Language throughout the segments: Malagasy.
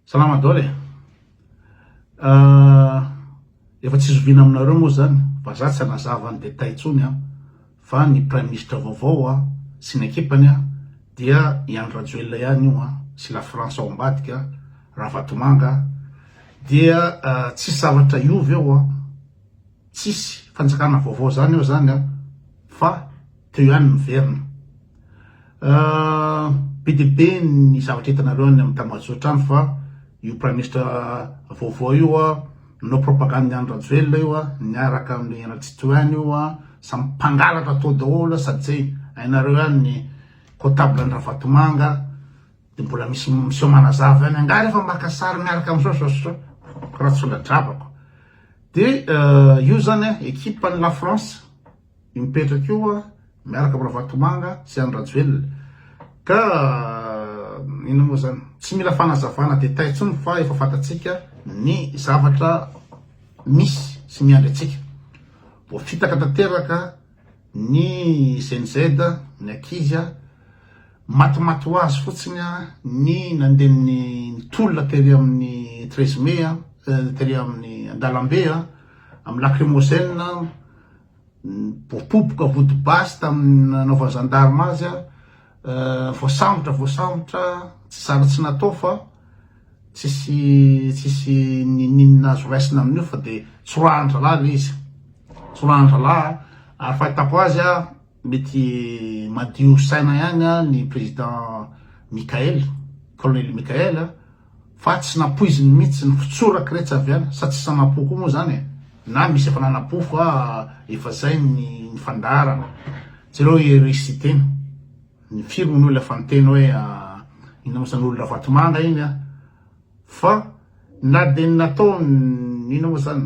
Salama daholo e! Ahh, efa tsy zoviana aminareo moa zany, vazaha tsy hanazava ny détails intsony an, fa ny praiminisitra vaovao an, sy ny ekipany an, dia i Andry Rajoelina ihany io an, sy la France ao ambadika an, Ravatomanga an, dia tsisy zavatra hiova eo an, tsisy fanjakana vaovao zany eo zany an, fa. Teo ihany ny verina. Be dia be ny zavatra hitanareo any amin'ny tambajotra any fa io praiminisitra vaovao io nanao propagandy ny Andry Rajoelina io niaraka amin'ny Henri Tsitohaina io samy mpangalatra tao daholo sady izay hainareo ihany ny comptable an'i Ravatomanga dia mbola misy miseho manazava ihany angaha rehefa maka sary miaraka amin'izao zao sy zao raha tsy sola-drabako dia io zany ekipan'i la France Mipetraka eo aho miaraka am Ravatomanga sy Andry Rajoelina ka inona moa zany? Tsy mila fanazavana détail tsony fa efa fantatsika ny zavatra misy sy miandry antsika. Voafitaka tanteraka ny Gen Z, ny ankizy, matimaty ho azy fotsiny ny nandeha ny tolona tery amin'ny treize mai tery amin'ny andalambe, amin'ny lacrymogène. Nipopopoka vody basy tamin'ny nanaovan'ny zandarima azy, voasambotra, voasambotra, tsy zara tsy natao fa tsisy tsisy n'inon'inona azo raisina amin'io fa dia tsorahan-drahalahy ilay izy, tsorahan-drahalahy ary fahitako azy a. Mety madio saina ihany ny Président Mickaël, Colonel Mickaël, fa tsy nampoiziny mihitsy ny fitsorak retsy avy any, sa tsisy nanapo koa moa izany e? Na misy efa nanapo fa efa izay ny fandaharana. Jereo i Hery Siteny, ny firy hono ilay efa niteny hoe inona moa izany olon-dRavatomanga iny an! Fa na dia ny nataony inona moa izany?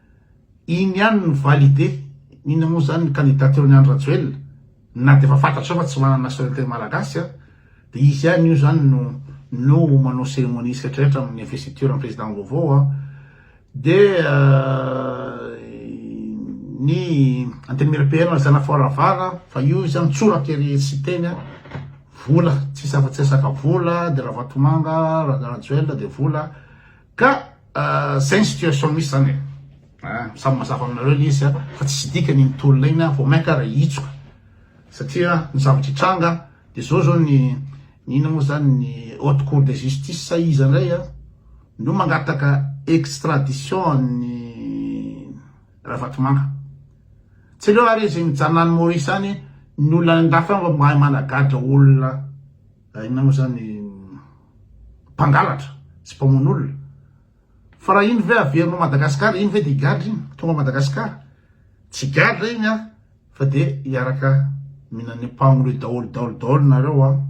Iny ihany ny valide inona moa izany ny candidature ny Andry Rajoelina na dia efa fantatrao fa tsy manana nationalité malagasy an dia izy ihany io izany no no manao ceremonie sy rehetra rehetra amin'ny investiture ny président vaovao an dia ny antenimiery PM zana foravara fa io izy mitsoraka ery tsy teny an vola tsisy afa-tsy resaka vola dia Ravatomanga Rajoelina dia vola Ka zay ny situation misy zany e. Ah, samy mazava aminareo ilay izy fa tsisy dikany ny tolona iny vao mainka raha hitsoka satria ny zavatra hitranga dia zao zao ny ny ina moa zany ny haute cour de justice sa iza indray a no mangataka extradition an'ny Ravatomanga tsy aleo ary izy mijanona any Maurice any ny olona any andafy any mba mahay managadra olona Raha inona moa izany mpangalatra sy mpamono olona? Fa raha iny ve averinao Madagasikara, iny ve dia higadra iny? Tonga Madagasikara, tsy higadra iny an! Fa dia hiaraka mihinan'ny ampagnony eo daholo daholo daholo nareo an!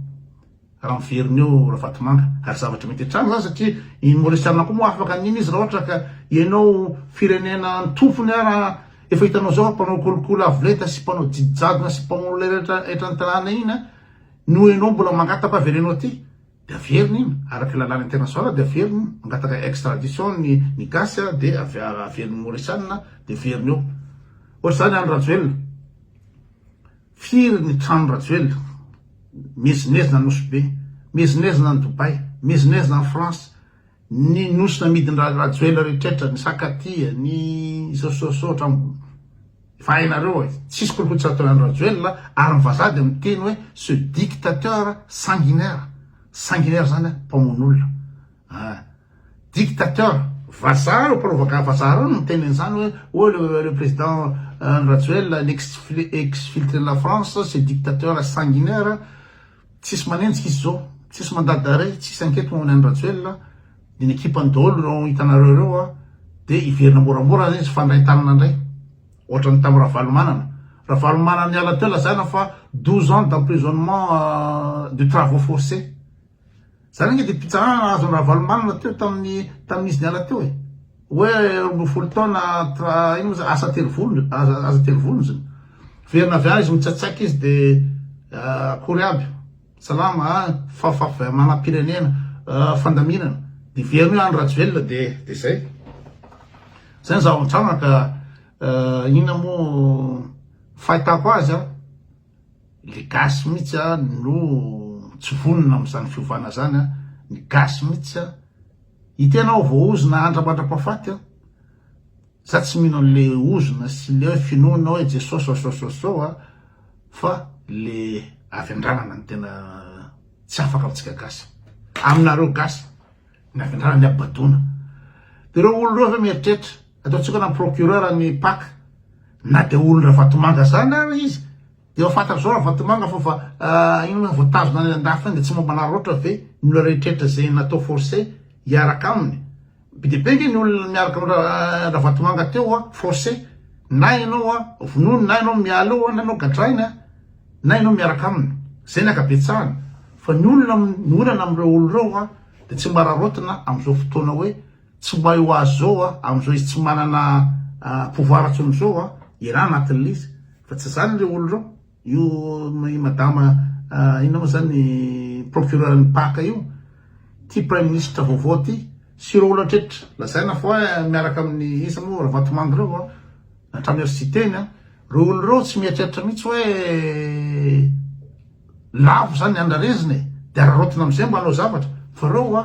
Raha miverina eo Ravatomanga, ary zavatra mety hatrany izany satria iny Maorisianina koa moa afaka an'iny izy raha ohatra ka ianao firenena antompony ara efa hitanao izao mpanao kolikoly avo lenta sy mpanao didijadona sy mpamono olona rehetra etra ny tanàna iny an! Noho ianao mbola mangataka avereno aty de averina iny araka ny lalàna international de averina iny mangataka extradition ny ny gasy a de averina ny morisana de averina eo ohatr'izany any rajoelina firy ny trano rajoelina miezinezina nosy be miezinezina any dobay miezinezina any france ny nosy namidin-dra rajoelina rehetrretra ny sakatia ny izao sy izao sy izao hatramin'ny Fa hainareo e, tsisy kolikotsy atao ihany Rajoelina, ary ny vazaha dia miteny hoe ce dictateur sanguinaire, sanguinaire zany a, mpamono olona ah, dictateur, vazaha reo mparovaka vazaha reo no miteny an'izany hoe oh le le président Andry Rajoelina l'ex exfiltré de la France ce dictateur sanguinaire, tsisy manenjika izy zao, tsisy mandat d'arret, tsisy enquête momba ny an'i Rajoelina, Ny ekipany daholo ireo hitanareo ireo dia hiverina moramora ary izy fandrain-tanana indray ohatran'ny tamin'ny Ravalomanana. Ravalomanana niala teo lazaina fa douze ans d'emprisonnement de travaux forcés. Izany ange dia mpitsarana nahazo an'i Ravalomanana teo tamin'ny tamin'ny izy niala teo e. Hoe roa ambin'ny folo taona tra- ino moa izany asa telo volon- asa telo volonjy. Miverina avy any izy mitsatsaika izy dia akory aby. Salama a! Fahafafy manam-pirenena fandaminana de very hoe Andry Rajoelina de de zay. Zay ny zava-mitranga ka inona moa fahitako azy a le gasy mihitsy a no tsy vonona amin'izany fiovana zany a, ny gasy mihitsy a, itenao voahozona andra mandra-pahafaty a. Za tsy mino anle ozona sy le hoe finoana hoe Jesosy oasoasoasô a fa le avy andranana no tena tsy afaka amintsika gasy. Aminareo gasy ny avy andranana ny abadona. De reo olona reo ve mieritreritra ataontsika hoe namprocureur ny pac na de olon-dRavatomanga zany ary izy Efa fantatra zao ravatomanga fa fa inona vao tazona any andafy any de tsy momba anareo loatra ve ny olona rehetrretra ze natao forcer hiaraka aminy be de be nge ny olona miaraka am ravatomanga teo a forcer na enao a vonoiny na enao miala eo a na enao gadrainy a na enao miaraka aminy zay ny akabetsahany fa ny olona ny olana amreo olona reo a de tsy mba araraotina amzao fotoana hoe Tsy way ho azy zao a, amzao izy tsy manana pouvoir tsony zao a, iraha anaty lisy, fa tsy zany le olo reo, io i madama inona mo zany i procureur ny paka io, ty prime ministre vaovao ty, sy reo olo atretra lazaina fa oe miaraka aminy iza mo ravatomanga reo a, hatrany azo tsy iteny a, reo olo reo tsy mieritreritra mitsy oe lavo zany ny andrarezina e, de araraotina amzay mba anao zavatra, fa reo a.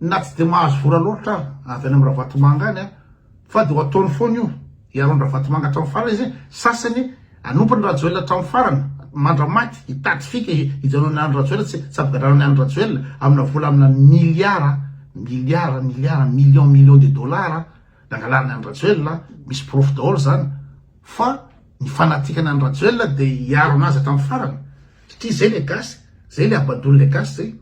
na tsy dia mahazo vola loatra aho avy any amin'ny Ravatomanga any fa dia ho ataony foana io hiaro an'i Ravatomanga hatramin'ny farany izy sasany hanompo an'i Rajoelina hatramin'ny farany mandramaty hitady fika hijanona any Rajoelina tsy ampigadrana any Rajoelina amina vola amina miliara miliara miliara million million de dollars nangalariny any Rajoelina misy porofo daholo izany fa ny fanatikana any Rajoelina dia hiaro anazy hatramin'ny farany satria izay le gasy izay le habadoan'ilay gasy izay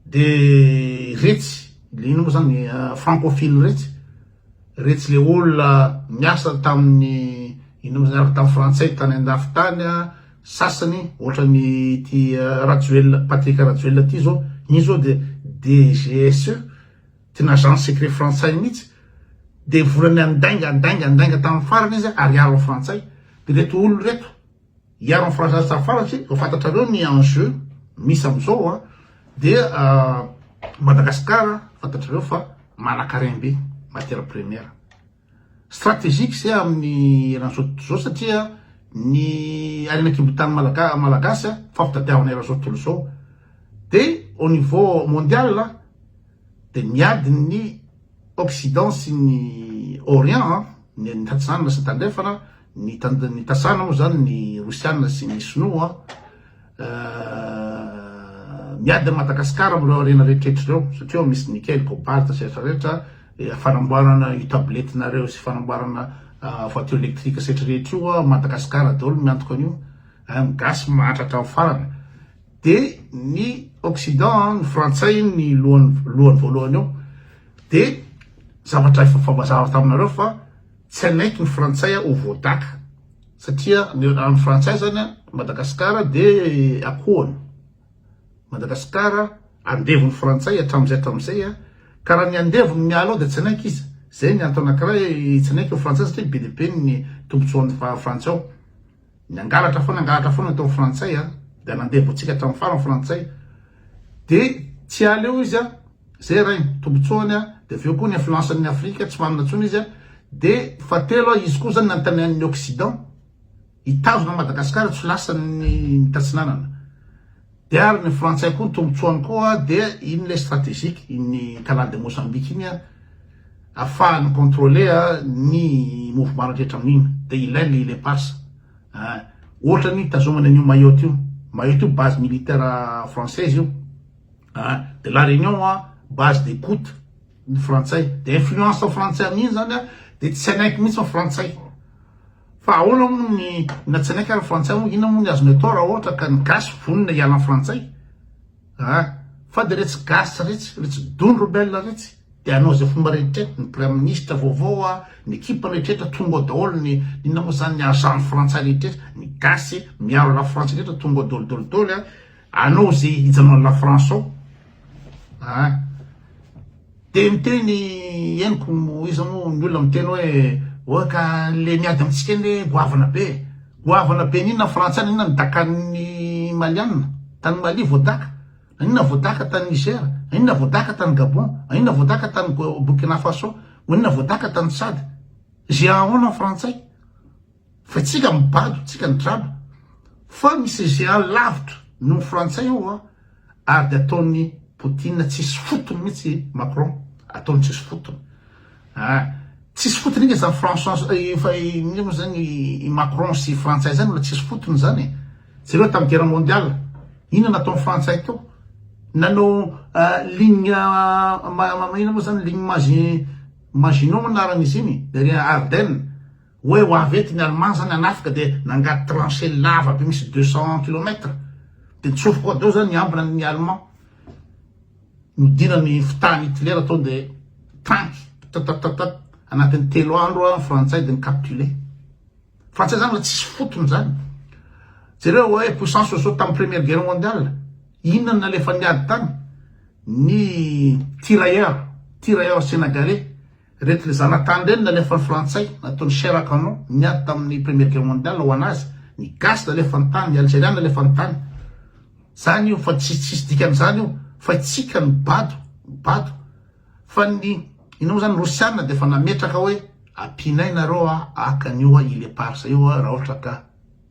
De retsy le ino moa zany francophile retsy, retsy le olona niasa tamin'ny ino moa zany avy tamin'ny frantsay tany an-dafy tany a, sasany ohatran'ny ity Rajoelina, Patrick Rajoelina ty zao, iny zao de DGSE, tena agence secret frantsay mihitsy, de vola niandainga, andainga, andainga tamin'ny farany izy, ariary ny frantsay, de reto olona reto, Hiaro ny Frantsay tsy tafafarantsy e, fa fantatrareo ny enjeu misy amzao a, dia Madagascar fantatrareo fa manankarem be matière première strategique zay aminy eran'izao tontolo izao satria ny harena kibontany malagasy malagasy a fa fitadiavana eran'izao tontolo izao dia au niveau mondial a. dia miady ny Occident sy ny Orient, ny Tatsana sy ny Tandrefana, ny Tatsana moa izany ny Rosiana sy ny Sinoa, miady an'i Madagasikara amin'ireo harena rehetra ireo, satria ao misy Nickel, Cobalt sy ny hafa rehetra, fanamboarana io tabletinareo sy fanamboarana voiture électrique sy ny hafa rehetra io Madagasikara daholo no miantoka an'io, ny Gasy mahantra hatramin'ny farany. dia ny occident ny frantsay ny lohany lohany voalohany eo dia zavatra efa fambazava taminareo fa tsy anaiky ny frantsay ho voadaka satria ny amin'ny frantsay zany a madagasikara dia akohony madagasikara andevon'ny frantsay hatramin'izay hatramin'izay a karaha ny andevony miala ao dia tsy anaiky izy zay ny antony anankiray tsy anaiky ny frantsay satria be dia be ny tombontsoan'ny frantsay ao Nangalatra foana nangalatra foana tao frantsay a, dia nandeha voantsika hatramin'ny farany frantsay, dia tsy aleo izy a, zay ray ny tombotsoany a, dia avy eo koa ny influence an'ny afrika tsy manana intsony izy a, dia fahatelo a izy koa zany nanontanian'ny occident hitazona an'i Madagascar tsy ho lasan'ny mitatsinanana. Dia ary ny frantsay koa ny tombotsoany koa dia iny le strategique iny canal de Mozambique iny a afahany mi-controler ny mouvement rehetra amin'iny dia ilainy le ile passe ah ohatra ny hitazomany an'io Mayotte io Mayotte io base militaire française io ah dia la Réunion a base des coutes ny frantsay dia influence frantsay amin'iny zany a dia tsy hanaiky mihitsy ny frantsay Fa ahoana moa ny na tsinay ary frantsay moa inona moa ny azony atao raha ohatra ka ny gasy vonona hiala ny frantsay ah fa dia retsy gasy retsy retsy don rebelle retsy dia hanao izay fomba rehetra ny praiminisitra vaovao ah ny ekipany rehetra tonga ao daholo ny inona moa izany ny agent frantsay rehetra ny gasy miaro la france rehetra tonga ao daholo daholo daholo ah Anao ze hijanona la France ao a! de miteny henoko iza mo ny olona miteny oe oa ka le miady amitsika eny oe goavana be e! goavana be n'inona frantsay nan'inona ny dakan'ny malianina tany Mali vao daka? nan'inona vao daka tany Niger? nan'inona vao daka tany Gabon? nan'inona vao daka tany Burkina Faso? nan'inona vao daka tany Tchad? ze ahaona ny frantsay? Fa tsika mibado tsika ny draba fa misy GA lavitra noho ny frantsay ao a ary de ataon'i Poutine tsisy fotony mihitsy i Macron ataony tsisy fotony a tsisy fotony inga zany François efa inona moa zany i Macron sy frantsay zany olona tsisy fotony zany e jereo tamin'ny guerre mondial inona nataon'ny frantsay teo nanao ligne inona moa zany ligne Maginot moa anaran'izy iny ery Ardennes Hoe ho avy eto ny Allemand zany hanafika dia nangady tranchée lava be misy deux cents kilomètres. Dia nitsofoka ao daholo zany ny ambina ny Allemand. Nodina ny fitahan'i Hitler tao dia tanky ptatatatat anatin'ny telo andro ny Frantsay dia ni-capituler. Frantsay zany mba tsisy fotony zany. Jereo hoe puissance oiseau tamin'ny première guerre mondiale. Inona no nalefan'ny ady tany? Ny tirailleurs, tirailleurs senegalais. Ireto le zanatany ireny nalefan'ny frantsay nataony chair à canon niady tamin'ny première guerre mondiale ho anazy, ny gasy nalefan'ny tany, ny algerian nalefan'ny tany. Zany io fa tsisy tsisy dikany zany io fa itsika no bado, bado. Fa ny inona moa zany rosiana dia efa nametraka hoe ampianay nareo a haka an'io a ile parsa io a raha ohatra ka.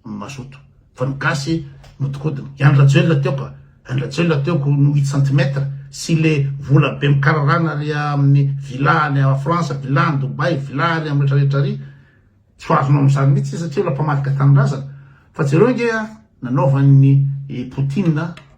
ny mazoto fa ny gasy no tokodiny, i Andry Rajoelina teo ka, Andry Rajoelina teo ko no huit centimètre sy le vola be mikararana ary aminy villa any France, villa any Dubai, villa ary am retra retra ary, tsy ho azonao amizany mihitsy satria olona mpamadika tanindrazana, fa jereo nge a nanaovan'ny i Poutine.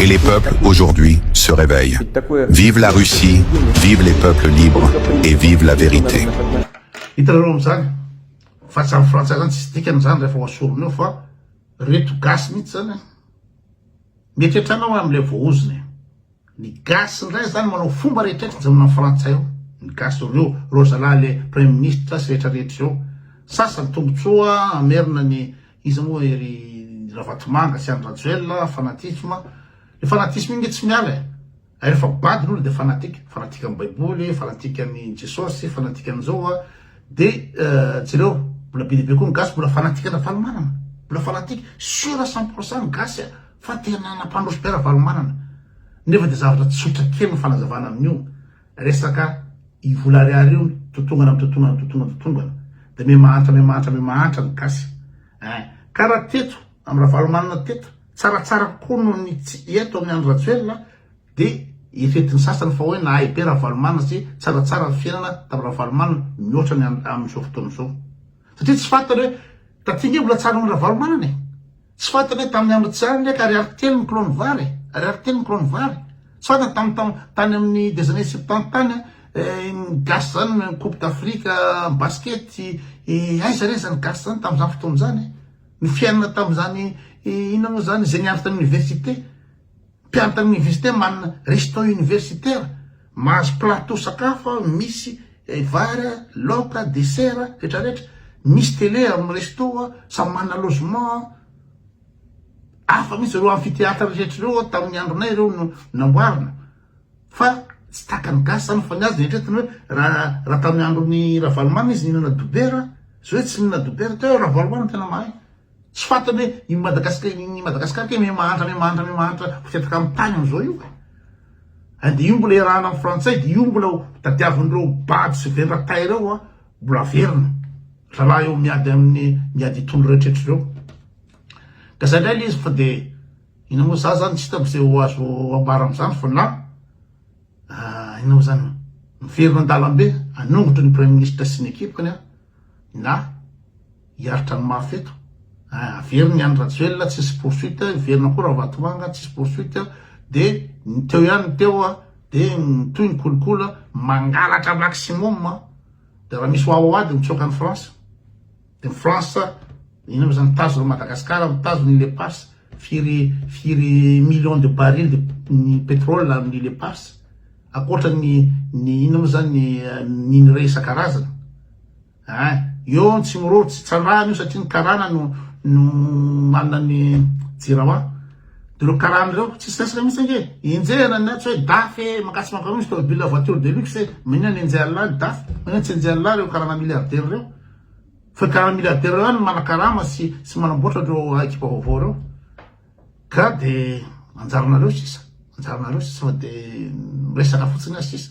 et les peuples aujourd'hui se reveille vive la Russie vive les peuples libre et vive la vérité. Hitanareo amin'izany fa tsy amin'ny frantsay zany tsisy dikany zany rehefa ohasorina eo fa reto gasy mihitsy zany mety hiatrana ho amin'ilay voahozona e. Ny gasy ndray zany manao fomba rehetra tsy mijanona am frantsay ao ny gasy ao reo reo zalahy le premier ministre sy rehetra rehetra reo sasany tombotsoa hamerina ny iza moa e ry ravatomanga sy andry rajoelina fanatisme le fanatisme iny nge tsy miala e hay refa bado ny olona de fanatique fanatique am baiboly fanatique am i jesosy fanatique am zao a de jereo mbola be dia be koa ny gasy mbola fanatique an dravalomanana mbola fanatique sur cent pour cent ny gasy a Fa tena nampandroso be Ravalomanana, nefa dia zavatra tsotra kely ny fanazavana amin'io resaka i vola ariary io, totongana amin'ny totongana, totongana, totongana, dia miha-mahantra, miha-mahantra, miha-mahantra ny gasy eh! Ka raha teto amin'i Ravalomanana teto tsaratsara kokoa noho ny tsy eto amin'i Andry Rajoelina dia eritreretin'ny sasany fa hoe nahay be Ravalomanana sy tsaratsara ny fiainana tamin'i Ravalomanana mihoatra ny amin'izao fotoana izao, satria tsy fantany hoe taty ange mbola tsara noho ny Ravalomanana e! Tsy fantatra hoe tamin'ny andro tsy andry ka ariary telo ny kilao ny vary e! Ariary telo ny kilao ny vary. Tsy fantatra tamin'ny taon, tany amin'ny des années septante tany an, eh, ny gasy zany ny coupe d'Afrique basket, eh, aiza re zany gasy zany tamin'izany fotoana izany e! Ny fiainana tamin'izany, inona moa zany, izay niaro tany université. Mpianatra ny université manana restaurant universitaire, mahazo plateau sakafo aho misy vary, laoka, dessert, rehetra rehetra, misy télé amin'ny resto aho, samy manana logement aho, hafa mihitsy ireo amphithéâtre rehetra ireo tamin'ny andronay ireo no namboarina fa tsy tahaka ny gasy zany fa ny azy eritreretiny hoe raha raha tamin'ny andron'i Ravalomanana izy nihinana dobera, zao izy tsy mihinana dobera, teo Ravalomanana tena mahay. Tsy fantany hoe i Madagasikara i Madagasikara kay miha-mahantra miha-mahantra miha-mahantra mipetraka amin'ny tany amin'izao io e! An dia io mbola iarahana amin'ny frantsay dia io mbola tadiavin'ireo bado sy vendra tay ireo an mbola averina rahalahy eo miady amin'ny miady hitondra ireo tretra ireo ka izay indray ilay izy fa dia inona moa za zany tsy hitako izay ho azo ambara amin'izany fa na inona moa zany miverina an-dalambe hanongotro ny praiminisitra sy ny ekipany an na hiaritra ny mafy eto ah, averina ihany Rajoelina tsisy poursuite, hiverina koa Ravatomanga tsisy poursuite, de ny teo ihany ny teo ah, de mitohy ny kolikola mangalatra maximum ah, de raha misy wawawa de mitsoaka ny France, de ny France ina moa zany mitazona Madagascar, mitazona ile Pars, firy firy millions de barils de pétrole amin'ny ile Pars, Ankoatra ny ny ino mo zany ny minerais isan-karazany ein! Eo ny Tsimiroro tsy tsandrahana io satria ny karana no no manana ny jirama. De reo karana reo tsisy resaka mitsy ange e! Enjehina ny tsy hoe daf e! Mankasy mankaroa misy tômôbila voiture de luxe e! Maninona no enjehan'ny lahy ny daf? Maninona tsy enjehan'ny lahy reo karana milliardaires reo? Fa karana milliardaires reo ihany no manakarama sy sy manamboatra reo ekipa vaovao reo. Ka de anjaranareo sisa, anjaranareo sisa fa de miresaka fotsiny azy sisa.